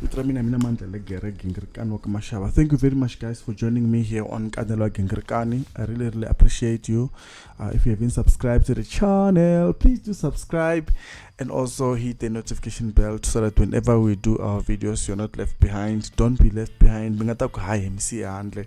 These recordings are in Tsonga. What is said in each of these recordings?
vito ra mina mina mandlele gere gingirikani wa ka maxava thank you very much guys for joining me here on kanelo wa gingirikani i really really appreciate you uh, if you haven't subscribed to the channel please do subscribe and also hit the notification bell so that whenever we do our videos you're not left behind don't be left behind mi nga ta ku hayi hi misiya handle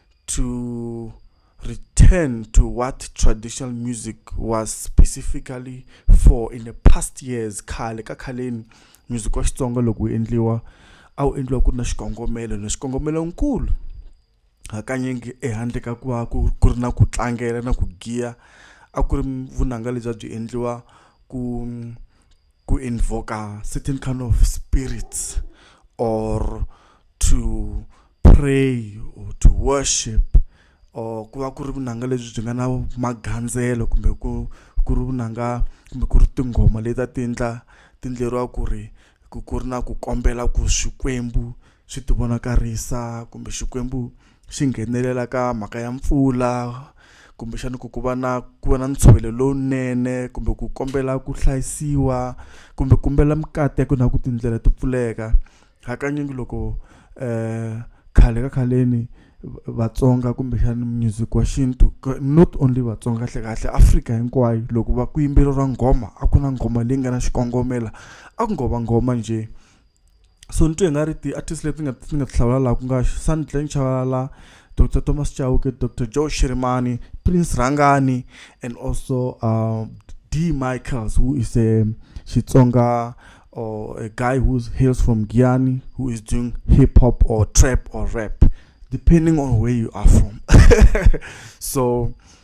to return to what traditional music was specifically for in the past years khale ka khaleni music wa xitsonga loko wu endliwa a wu endliwa ku ri na xikongomelo na xikongomelo nkulu hakanyingi ehandle ka ku va ku ku ri na ku tlangela na ku giya a ku ri vunanga lebyi a byi endliwa ku ku invoka certain kind of spirits or to pray or to worship or ku va ku ri vunanga lebyi byi nga na magandzelo kumbe ku ku ri vunanga kumbe ku ri tinghoma leti a ti endla ti endleriwa ku ri ku ku ri na ku kombela ku swikwembu swi tivonakarisa kumbe xikwembu xi nghenelela ka mhaka ya mpfula kumbexana ku ku va na ku va na ntshovelo lowunene kumbe ku kombela ku hlayisiwa kumbe kumbela mikateko na ku tindlela to pfuleka hakanyingi loko um khale ka khaleni vatsonga kumbexana music wa xintu not only vatsonga kahle kahle afrika hinkwayo loko va ku yimbeleriwa nghoma a ku na nghoma leyi nga na xikongomela a ku ngo va nghoma njhe so ni twe nga ri ti-artist leti nga ti nga ti hlawula laha ku nga sandleng chavalala dr thomas chauke dr joe shirimani prince rhangani and also uh, d michaels who is a xitsonga or a guy who hails from guyani who is doing hip hop or trap or rap depending on where you are from so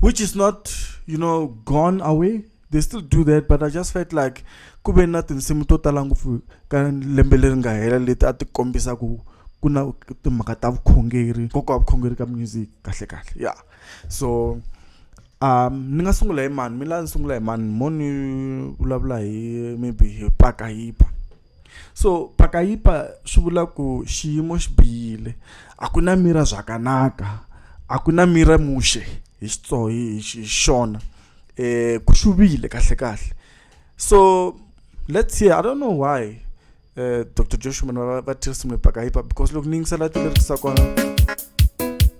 which is not you know gone away they still do that but i just felt like ku ve na tinsimu to tala ngopfu ka lembe leri nga hela leti a ti kombisa ku ku na timhaka ta vukhongeri nkoka wa vukhongeri ka music kahle kahle ya yeah. so um ni nga sungula hi mani mi la ni sungula hi mani mo ni vulavula hi maybe hi paka yipa so phakayipa swi vula ku xiyimo xi bihile a ku na mira zvakanaka a ku na mira muxe hi xitso hi xona um ku xuvile kahle kahle so let's see i don't know why um eh, dr joshua va tirhisa mipakayipa because loko ni yingisela ti lerisa kona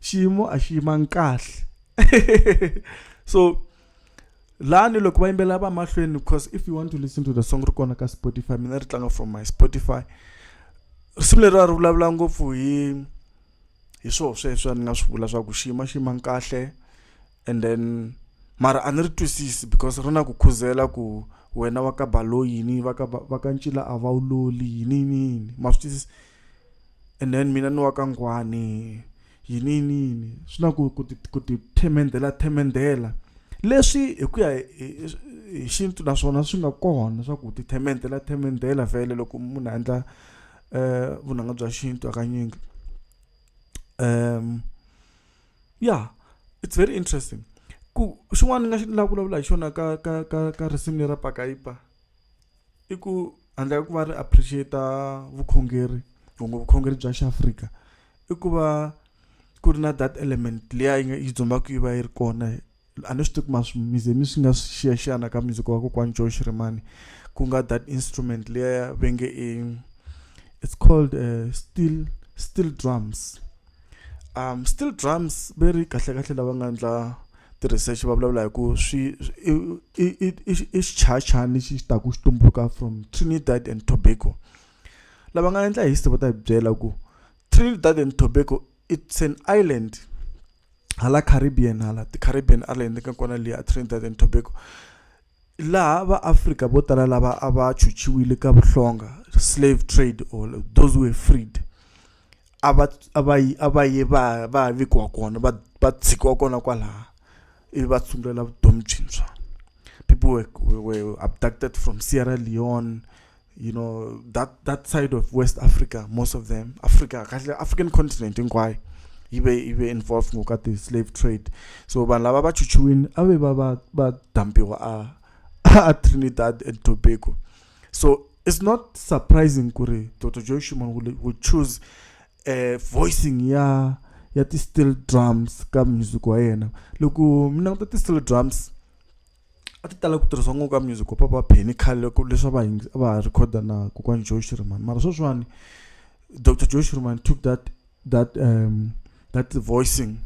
xiyimo a xi yimanga kahle so lani loko va yimbelela va mahlweni because if you want to listen to the song ri kona ka spotify mina ri tlanga from my spotify risimu leri a ri vulavula ngopfu hi hi swoo sweswo a ni nga swi vula swa ku xiyima xiyimang kahle and then mara a ni ri twisisi because ri na ku khuzela ku wena wa ka balo yini va ka va ka ncila a va wu loli yini yini yini ma swi twisisa and then mina ni wa ka ngwani yini yiniyini swi na ku ku ti themendela themendela leswi hi ku ya hi xintu naswona swi nga kona swa ku ti themendela themendela vhele loko munhu a endla um vunanga bya xintu hakanyingi um ya it's very interesting ku xin'wana ni nga xi ni la vulavula hi xona ka ka ka ka risimu lera pakaipa. i ku handle ka ku va ri appreciate vukhongeri kumbe vukhongeri bya xiafrika i ku va ku ri na that element leya yi nga yi dzumbaka yi va yi ri kona a ni swi tivi ma mize mi swi nga xiyaxiyana ka music wa kokwani joe xirimani ku nga that instrument leya venge i it's called uh, steel steel drums um steel drums ve ri kahlekahle lava nga endla ti-research va vulavula hi ku swi i xichayachani lexi xi taku xi tumbuluka from trinidad and tobago lava nga endla history va ta hi byela ku trinidad and tobago it's an island hala caribbean hala ti-caribbean island ka kona liya trinidad and tobago laha va Afrika vo tala lava a va chuchiwile ka vuhlonga slave trade or those were freed a va a va yi a va ye va va vikiwa kona va va tshikiwa kona kwalaha ivi va sungulela vutomi byintshwa people were, were abducted from Sierra Leone you know that that side of West Africa, most of them, Africa, African continent in Kwai, you be you be involved in the slave trade. So when lava ba chuchuin, abe ba ba ba dampiwa a Trinidad and Tobago. So it's not surprising kuri Dr. Joy Shuman will, will choose uh, voicing ya ya ti steel drums ka music wa yena loko mina ku ta ti steel drums a ti tala ku tirhisiwa ngopfu ka music wa papa penny khale loko leswi va a va ha rhikhoda na kokwani joe shirman mara sweswiwani dr joe shirman took that that um that voicing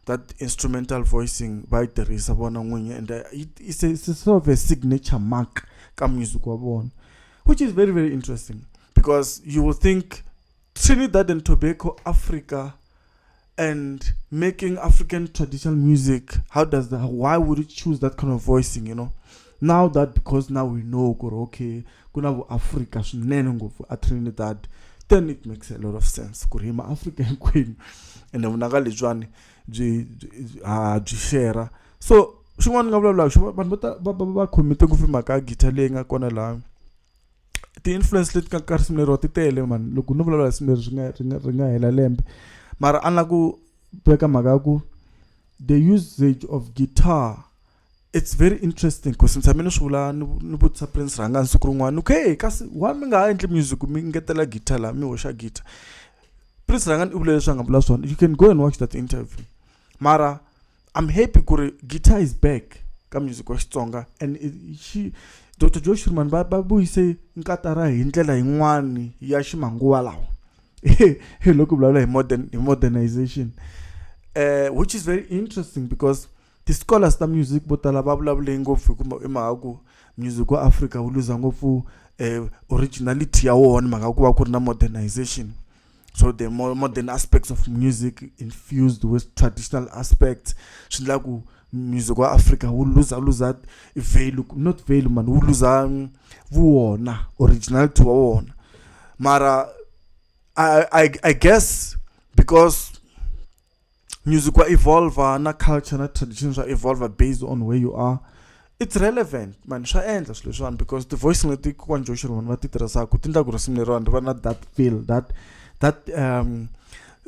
that instrumental voicing va yi tirhisa vona n'winyi and uh, it's a, it's a sort of a signature mark ka music wa vona which is very very interesting because you will think Trinidad and Tobago, Africa, and making African traditional music. How does that? Why would you choose that kind of voicing? You know, now that because now we know kuri okay ku na vuafrika swinene ngopfu a trinidad then it makes a lot of sense ku ri maafrika hinkwenu ende vunanga lebyiwani byi ha byi shera so xin'wana ni nga vulavulaka xo vanhu va va va khomite ngopfu mhaka ya guitar leyi nga kona laha ti-influence leti nga ka risimu leriwa ti tele mani loko no vulavula risimu leri ri nga ri nga ri nga hela lembe mara a ni la ku veka mhaka ya ku the usage of guitar it's very interesting ku si tshame ni swi vula ni ni vutisa prince rhanga siku rin'wana ku he kasi why mi nga ha endli music mi ngetela guitar laha mi hoxa guitar prince rhanga i vule leswi a nga vula swona you can go and watch that interview mara i'm happy ku ri guitar is back ka music wa xitsonga and xi dr joe shirman va va vuyise nkatara hi ndlela yin'wani ya ximanguva lawa hi loko vulavula hi modern hi modernization uh, which is very interesting because ti-scholars ta music vo tala va vulavule ngopfu hi mhaka ku music wa africa wu luza ngopfu um originality ya wona mhaka ku va ku ri na modernization so the more modern aspects of music infused with traditional aspects swi endla ku music wa africa wu luza luza value not value mani wu luza um, vuwona originality wa wona mara I, I, I guess because music wa evolver na culture na tradition swa evolver based on where you are it's relevant mani swa endla swilo leswiwani because ti-voice leti kokwani joshua vanhu va ti tirhisaka ti endla ku risimu leriwani ri va na that feel that that um,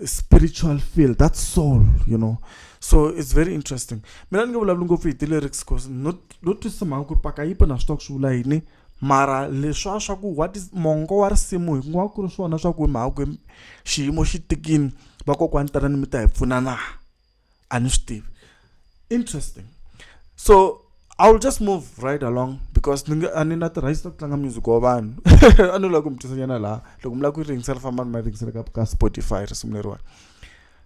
spiritual feel that soul you know so it's very interesting mina ni nge vulavuli ngopfu hi ti-lyrics bcause no twisisa mhaka ku ri paka yipa na swi tiva ku swi vula yini mara leswa swa ku what is mongo wa risimu hi nga ku ri swona swa ku mhakwe xiyimo xi tikini vakokwani tanani mi ta hi pfuna na a ni swi tivi interesting so i will just move right along because ni a ni na tirhayisi ta ku tlanga music wa vanhu a ni lava ku mi twisanyana laha loko mi lava ku yi ringisela famba ni ma ringisela ka ka spotify risimu leriwani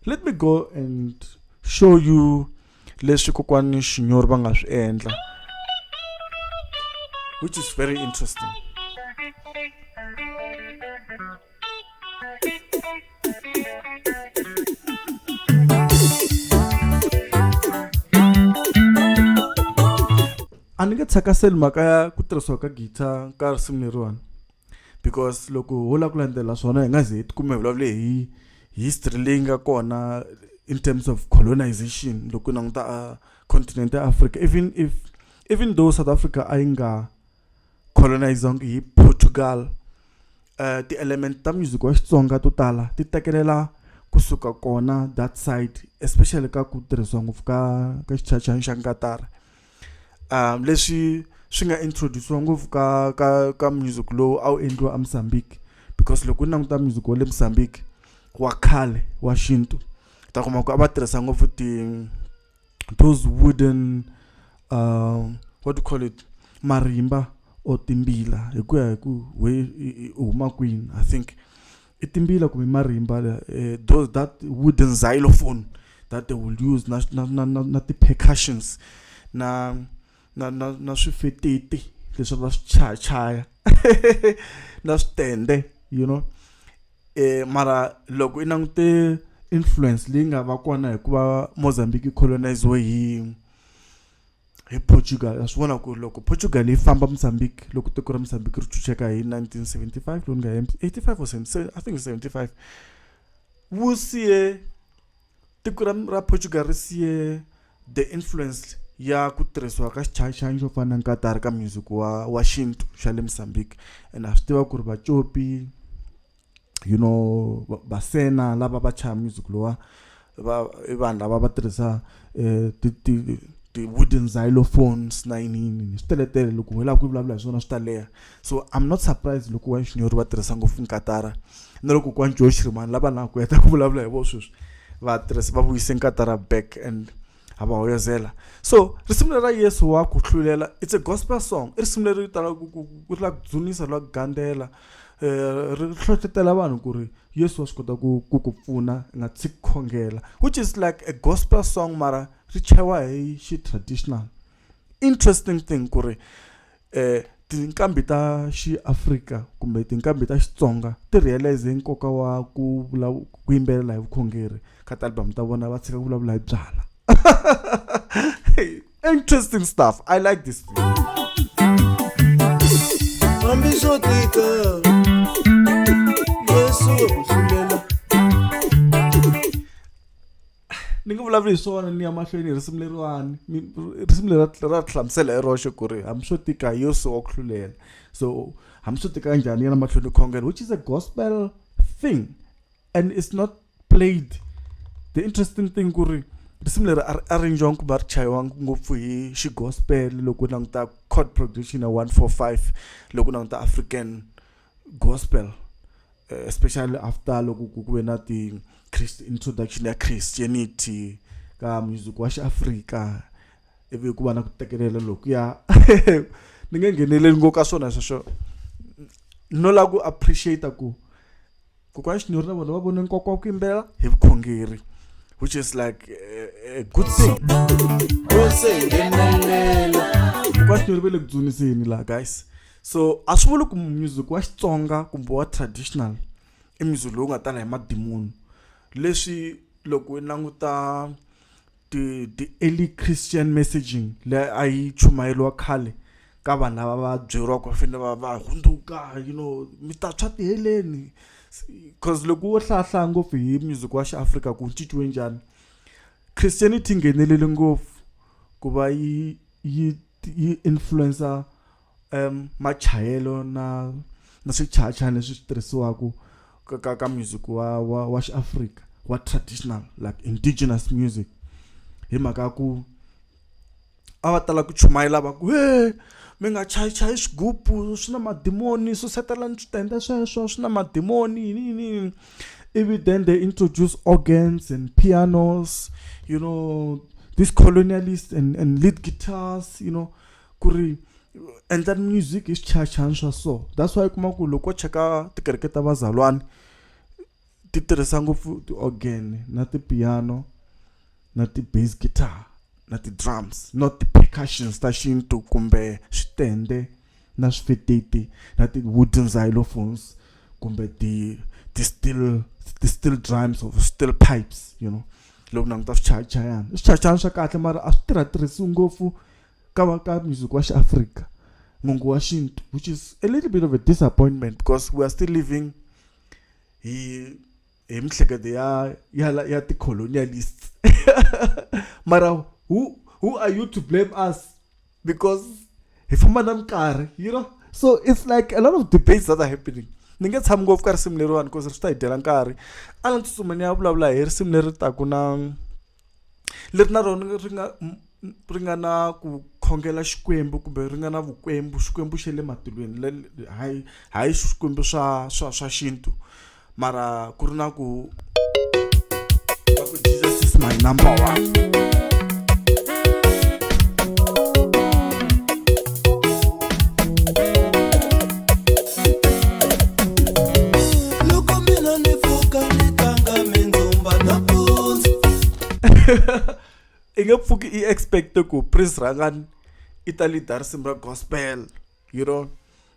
let me go and show you leswi kokwani xinyori va nga swi endla which is very interesting a ni nge tshakaseli mhaka ya ku tirhisiwa ka guitar ka risimu leriwani because loko ho lava ku landzela swona hi nga ze hi tikuma hi vulavule hi history leyi nga kona in terms of colonization loko languta a uh, continent ya africa even if even though south africa a yi nga colonizangi hi portugal uh, ti-element ta music wa xitsonga to tala ti tekelela kusuka kona that side especially ka ku tirhisiwa ngopfu ka ka xichachani xa nkatara um leswi swi nga introduce-iwa ngopfu ka ka ka music lowu a wu endliwa emozambique because loko u languta music wa le mozambique wa khale wa xintu ta kuma ku a va tirhisa ngopfu ti those wooden um what do you call it marimba or timbila hi ku ya hi ku we u huma kwini i think i timbila kumbe marimba eh, those that wooden xylophone that they will use na na na na, na ti percussions na na na na swifeteti leswi va swi chaya chaya na switende you know eh mara loko i langute influence leyi nga va kona hikuva Mozambique colonized hi hi portugal a swi vona ku ri loko portugal yi famba mozambique loko tiko ra mozambique ri chucheka hi 1975 lowu nga 85 or 77 i think 75 wu siye tiko ra ra portugal ri siye the influence ya ku tirhisiwa ka xichayixayi xo fana na nkatari ka music wa wa xintu xa le mozambique and a swi tiva ku ri vacopi you know vasena lava va chaya music lowa va i vanhu lava va tirhisa um ti ti ti-wooden xylophones na yiniyini swi teletele loko hi lava ku vulavula hi swona swi ta leha so i'm not surprised loko wa xinyori va tirhisa ngopfu nkatara na loko kwani joe xirimani lava na ku heta ku vulavula hi vo sweswi va tirhisa va vuyise nkatara back and a va hoyozela so risimu leri ra yesu wa ku hlulela it's a gospel song i risimu leri talaka ku ku ri la ku dzunisa la ku gandzela eh, ri hlohlotela vanhu ku ri yesu wa swi kota ku ku ku pfuna nga tshiki khongela which is like a gospel song mara ri chayiwa hi xi traditional interesting thing ku ri eh tinqambi ta xiafrika kumbe tinqambi ta xitsonga ti realize nkoka wa ku ku yimbelela hi vukhongeri ka ti-album ta vona va tshika ku vulavula hi byala Interesting stuff. I like this. ni nga vulavuli hi swona ni ya mahlweni hi risimu leriwani risimu leri ra hlamusela hi roxe ku ri hambi swo tika hi yosi wa ku hlulela so hambi swo tika njhani yena mahlweni khongela which is a gospel thing and it's not played the interesting thing ku ri risimu leri a ri arrangiwanga kumbe a ri chayiwanga ngopfu hi xigospel loko languta cod production ya 145 loko languta african gospel eh, especially after loko ku ve na ti christ introduction ya christianity ka music wa xiafrika ivi ku va na ku tekelela lokuya ni nge ngheneleli ngo ka swona sweswo no la ku appreciate ku kokwana xinyori na vona va vone nkoka wa ku yimbelela hi vukhongeri which is like a, a good thing kokwana xinyori ve le ku dzuniseni laha guys so a swi vuli ku music wa xitsonga kumbe wa traditional i music lowu nga tala hi madimoni leswi loko i languta ti ti early Christian messaging leyi a yi chumayeriwa khale ka vanhu lava va byeriwaka va fanele va va hundzuka you know mi ta tshwa ti heleni cause loko wo hlaya hlaya ngopfu hi music wa xi Afrika ku cinciwe njhani Christianity yi nghenelele ngopfu ku va yi yi yi influencer. um machayelo na na swichayachayani leswi swi tirhisiwaka ka, ka, ka music wa wa, wa xiafrika wa traditional like indigenous music hi mhaka ya ku a va tala ku chumayela va ku he mi nga chayi chayi xigubu swi na madimoni susetelani switende sweswo swi na madimoni yini yini yini ivi then they introduce organs and pianos you know these colonialists and, and lead guitars you know ku ri endla music hi swichayachayani swa so that's why u kuma ku loko cheka tikereke ta vazalwana ti tirhisa ngopfu ti-organ na ti-piano na ti-bass guitar na ti-drums not ti-percussions ta xintu kumbe switende na swifeteti na ti-wooden xylophones kumbe ti ti-still ti-still drums or still pipes you know loko languta swichayachayana i swichayachayana swa kahle mara a swi tirha tirhisiwi ngopfu Kawa Ka music wa xiAfrika mongo wa xintu which is a little bit of a disappointment because we are still living hi hi mihleketo ya ya ya ti-colonialists mara who who are you to blame us because hi famba na minkarhi you know so it's like a lot of debates that are happening ni nge tshami ngopfu ka risimu leriwani because ri swi ta hi dyela nkarhi a ni tsutsuma ni ya vulavula hi risimu leri taku na leri na rona ri nga ri nga na ku khongela xikwembu kumbe ri nga na vukwembu xikwembu xa le matilweni le hayi hayi swikwembu swa swa swa xintu mara ku ri na ku Jesus is my number one i nge pfuki i expect ku prince rangani i ta leader simba gospel you know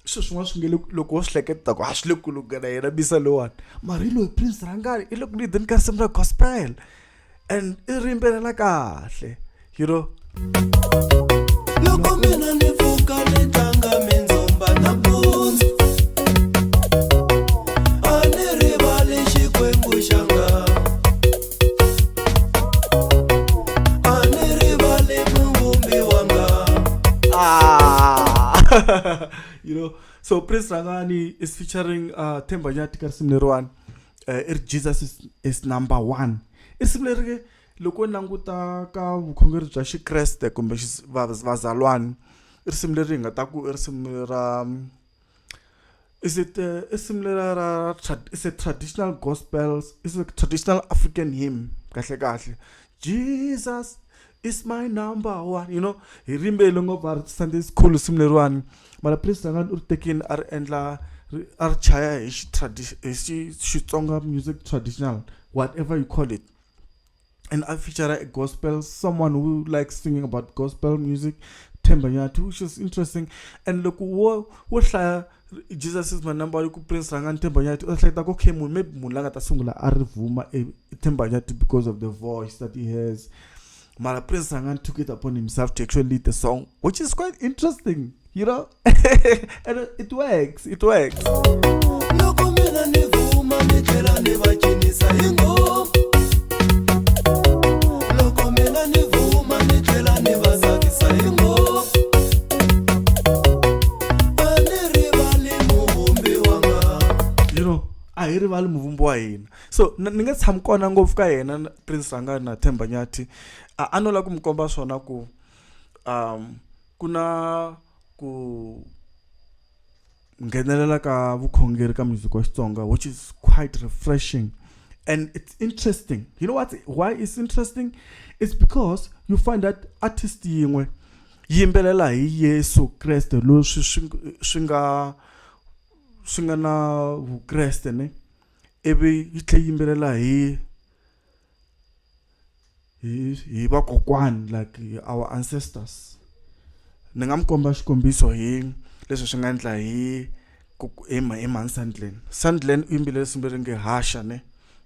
swilo swin'wana swi nge loko wo swi hleketa ku a swi le ku lunghela yena bisa lowani mara hi loyi prince rangani i le ku leadeni ka simba gospel and i ri yimbelela kahle you know loko mina ni pfuka ni tlanga mindzumba nampundzu a ni rivali xikwembu xa nga a ni rivali muvumbi wa nga ah. you know so prince rangani is featuring uh, themba nyati ka risimu leriwani eh, i ri jesus is, is number one i risimu leri ke loko languta ka vukhongeri bya xikreste kumbe vazalwani i risimu leri hi nga ta ku i risimu ra is it uh, is similar uh, tra is a traditional gospels is a traditional african hymn kahle kahle jesus It's my number one you know hi rimberile ngopfu a ri Sunday school simu leriwani mara priest nga u ri tekini a ri endla a ri chaya hi xi tradition hi xi Xitsonga music traditional whatever you call it and I feature a gospel someone who likes singing about gospel music Themba Nyathi which is interesting and loko wo wo hlaya Jesus is my number yi ku prince rhanga ni themba nyati u hleketa ku okay munhu maybe munhu la nga ta sungula a ri vuma e themba nyati because of the voice that he has mara prince rhanga ni took it upon himself to actually lead the song which is quite interesting you know and it works it works loko mina ni vuma ni tlhela ni va cinisa hi ngopfu a hi rivali muvumbi wa hina so ni nga tshami kona ngopfu ka yena prince ranga na themba nyathi a a no lava ku mi komba swona ku um ku na ku nghenelela ka vukhongeri ka music wa xitsonga which is quite refreshing and it's interesting you know what why it's interesting it's because you find that artist yin'we yimbelela hi Yesu Kreste leswi swi swi nga swi nga na vukreste ne ivi yi tlhe yimbelela hi hi hi vakokwani like our ancestors ni nga mi komba xikombiso hi leswi swi nga endla hi hi mhani Sandlin Sandlin u yimbelele nsimbeni nge haxa ne.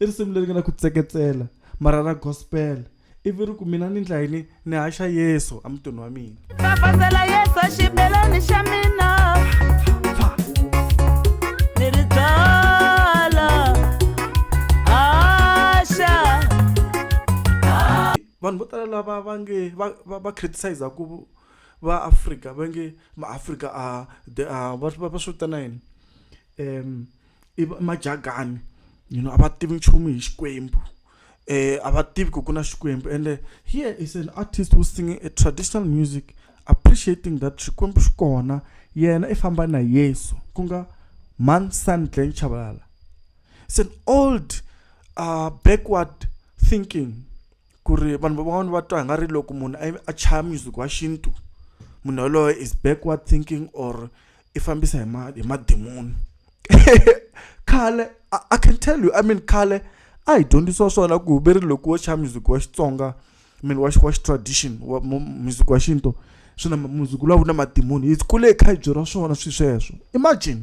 i risimu leri nga na ku tseketsela mara ra gospel ivi ri ku mina ni ndla yini ni haxa yesu emutini wa mina fafazela yesu xibelani xa mina ni ri byala haxa vanhu vo tala lava va nge va criticize ku va afrika va nge maafrika a va swi vitana yini um i majagani you know a va tivi nchumu hi xikwembu um a va tivi ku ku na xikwembu ende here is an artist who singing a traditional music appreciating that xikwembu xi kona yena i famba na yesu ku nga man son glen chabalala it's an old uh, backward thinking ku ri vanhu van'wana va twa hi nga ri loko munhu a chaya music wa xintu munhu yoloye is backward thinking or i fambisa hi ma hi madimoni khale i can tell you i mean khale a hi dyondzisiwa swona ku ve ri loko wo xa music wa xitsonga mean wa wa tradition wa music wa xintu swi na music lowu na madimoni hi kule hi kha hi byeriwa swona swilo sweswo imagine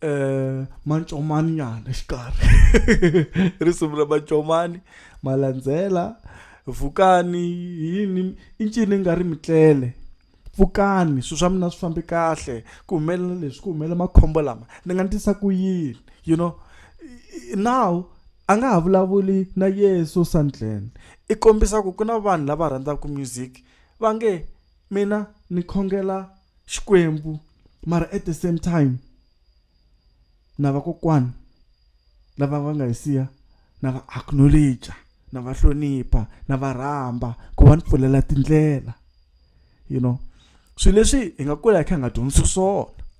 eh mancomani nyana xikarhi risimu ra mancomani malandzela vukani yini i ncini nga ri mitlele pfukani swilo swa mina swi fambe kahle ku humelela leswi ku humelela makhombo lama ni nga ndlisa ku yini you know now a nga ha vulavuli na yeso sandleni i kombisa ku ku na vanhu lava rhandzaka music va nge Mina ni khongela Xikwembu mara at the same time na vakokwani lava va nga hi siya na va acknowledge na va hlonipha na va rhamba ku va ni pfulela tindlela you know swilo leswi hi nga kula hi kha hi nga dyondzisi swona.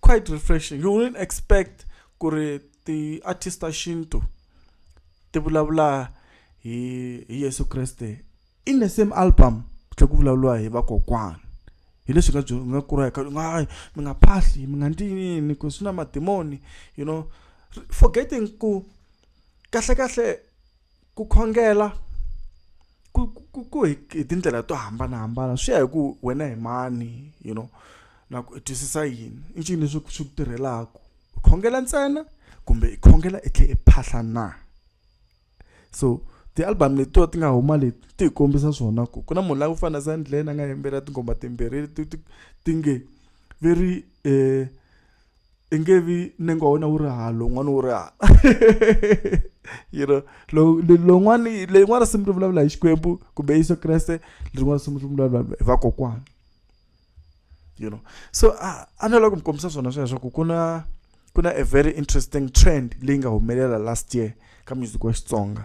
quite refreshing you wouldn't expect ku ri ti-artist ta xintu ti vulavula hi hi yesu kreste in the same album ku tlhe ku vulavuriwa hi vakokwana hi leswi nga byi nga kureka nga mi nga phahli mi nga ndzi yini ku swi na madimoni you know forgetting ku kahlekahle Ku khongela ku ku ku hi hi tindlela to hambanahambana swi ya hi ku wena hi mani you know na ku i twisisa yini i ncini leswi swi ku tirhelaku u khongela ntsena kumbe i khongela i tlhe i phahla na so ti-album letiwa ti nga huma leti ti hi kombisa swona ku ku na munhu la ku fana na Zandlen a nga yimbelela tinghoma timbirhi leti ti ti nge ve ri . i nge vi nenga wa wena wu ri hala lowun'wana wu ri hala you know lowun'wana leyin'wana risimu ri vulavula hi xikwembu kumbe yesu kreste lerin'wana risimu ri vulavula hi vakokwana you know so a a ni lava ku mi kombisa swona sweswo ku ku na ku na a very interesting trend leyi nga humelela last year ka music wa xitsonga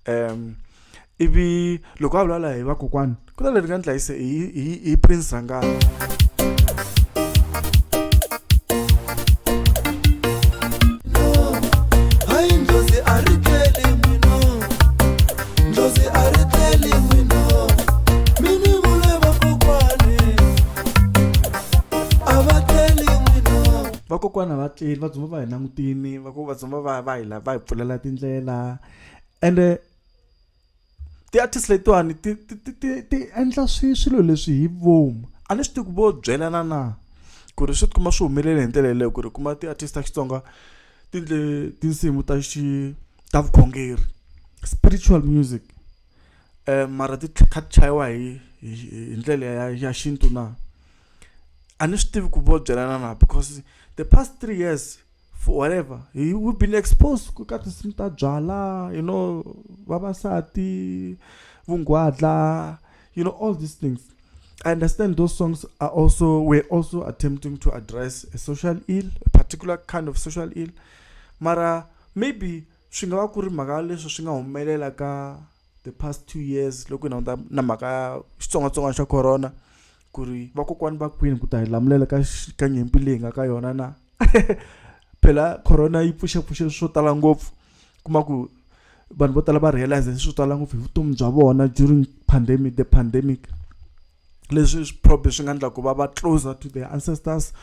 um ivi loko a vulavula hi vakokwani ku na leri nga ni dlayise hi prince zangana vakokwana va tleli va dzumba va hi langutini ku vatsonga va va hi la va hi pfulela tindlela ende ti-artist letiwani ti ti ti ti ti endla swi swilo leswi hi vomu a ni swi tivi ku vo byelana na ku ri swi tikuma swi humelele hi ndlela yeleyo ku ri kuma ti-artist ta xitsonga ti ndle tinsimu ta xi ta vukhongeri spiritual music mara ti kha ti chayiwa hi hi hi ndlela ya ya xintu na a ni swi tivi ku vo byelana na because the past three years. for whatever he, we've been exposed ku ka tinsimu ta byala you know vavasati vungwadla you know all these things i understand those songs are also we're also attempting to address a social ill a particular kind of social ill mara maybe swi nga va ku ri mhaka leswi swi nga humelela ka the past two years loko na na mhaka ya xitsongwatsongwana xa corona ku ri vakokwani va kwini ku ta hi lamulela ka ka nyimpi leyi nga ka yona na phela corona yi pfuxepfuxe swo tala ngopfu kuma ku vanhu vo tala va realize swo tala ngopfu hi vutomi bya vona during pandemic the pandemic leswi probably swi nga endla ku va va closer to their ancestors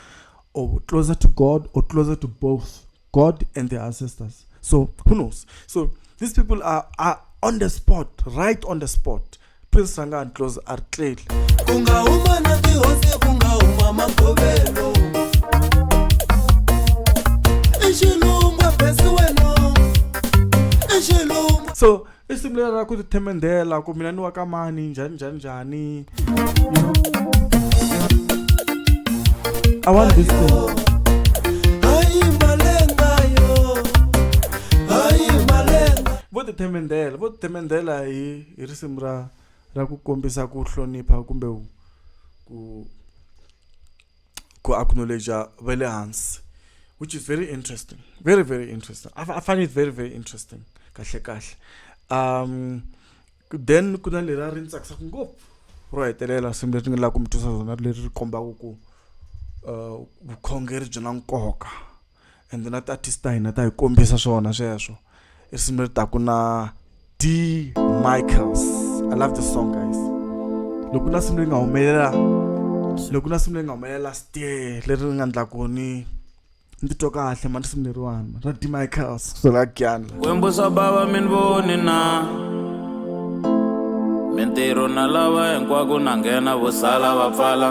or closer to god or closer to both god and their ancestors so who knows so these people are, are on the spot right on the spot prince sangani close artlel ku nga huma na tihosi ku nga huma magovelo exilungwa besi wena exilungwa so i simu leri ra ku tithemendhela ku mina ni wa ka mani njhani njhani njhani i want this thing vo tithemendhela vo tithemendhela hi i risimu ra ra ku kombisa ku hlonipha kumbe ku ku acknowledge va le hansi which is very interesting very very interesting I, I find it very very interesting kahle kahle um then ku na leri a ri ni tsakisaka ngopfu ro hetelela swilo leswi nga lava ku mi twisa rona leri ri kombaka ku uh, vukhongeri byi na nkoka ende na tiartist ta hina ta hi kombisa swona sweswo i risimu leri taku na d michaels i love this song guys loko na simu leyi nga humelela loko na simu leyi nga humelela last year leri ri nga ndlaku ni ni titwa kahle mani risimu leriwana ra d michaels kusola gyana kwembo swa bava mi ni voni na mintirho na lava hinkwako na nghena vo sala va pfala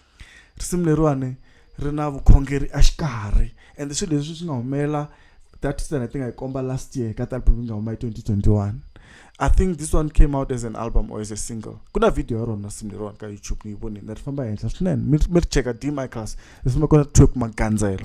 risimu leriwani ri na vukhongeri a xikarhi and swilo leswi swi nga humelela that sena ti nga yi komba last year ka album yi nga huma hi 2021 i think this one came out as an album or as a single ku na video ya rona risimu leriwani ka youtube ni yi vonile ri famba henhla swinene mi ri cheka d micros risimu kona twerk magandzelo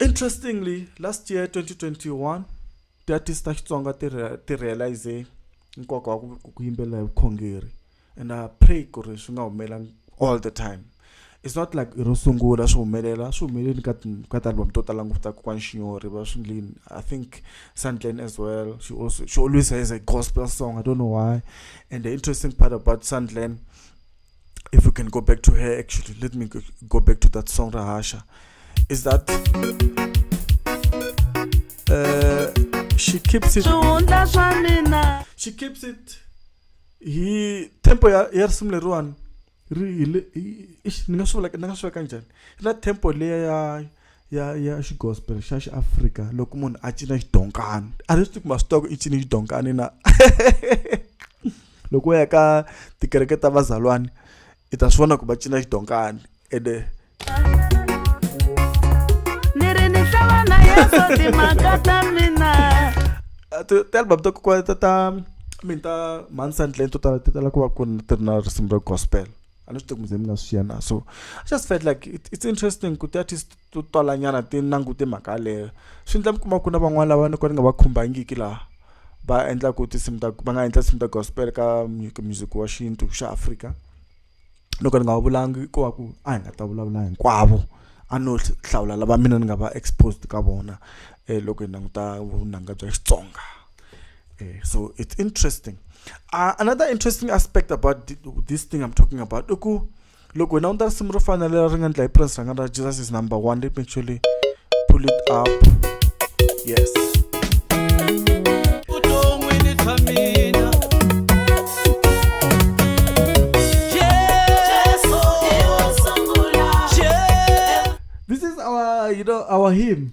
Interestingly, last year 2021 tiartist ta Xitsonga ti ti realize nkoka wa ku yimbelela hi vukhongeri and I pray ku ri swi nga humelela all the time it's not like i ro sungula swi humelela swi humeleli ka ka ti-album to tala ngopfu ta kokwani xinyori va swi ndlini i think sandlen as well she also she always has a gospel song i don't know why and the interesting part about sandlen if we can go back to her actually let me go back to that song rahasha is that uh, she keeps it she keeps it hi tempo ya ya risimu leriwani ri hi le ni nga swi vula ni nga swi veka njhani ri na tempo leya ya ya ya xigospel xa xiafrika loko munhu a cina xidonkani a ri swi tivi ku masitoko i cine xidonkani na loko u ya ka tikereke ta vazalwani i ta swi vona ku va cina xidonkani ende ni ri ni hlangana yeso timhaka ta mina ti-album ta kokwana ta ta mini ta mhani sandleni to tala ti tala ku va ku ri na risimu ra gospel alo swi tekumuze mina swi na so i just felt like it, it's interesting ku ti-artist to talanyana ti langute mhaka yaleyo swi endla mi kuma ku na van'wana lava ni ko ni nga va khumbangiki laha va endlaku tinsimu ta va nga endla tinsimu ta gospel ka music wa xintu xa afrika loko ni nga va vulangi ko va ku a hi nga ta vulavula hinkwavo a no hlawula lava mina ni nga va exposed ka vona um loko hi languta vunanga bya xitsonga Eh, so it's interesting uh, another interesting aspect about th this thing i'm talking about uku look wena u ta risimu ro fana leri ri nga ndla hi prince ranga ra jesus is number one let me actually pull it up yes This is our, you know, our hymn.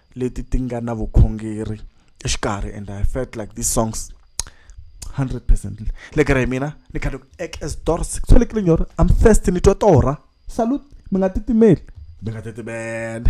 leti ti nga na vukhongeri exikarhi and i felt like these songs 100 percent le kere hi mina ni khale ku ek as dors kusolekile nyora am first ni twa torha salute mi nga titimeli mi nga titimele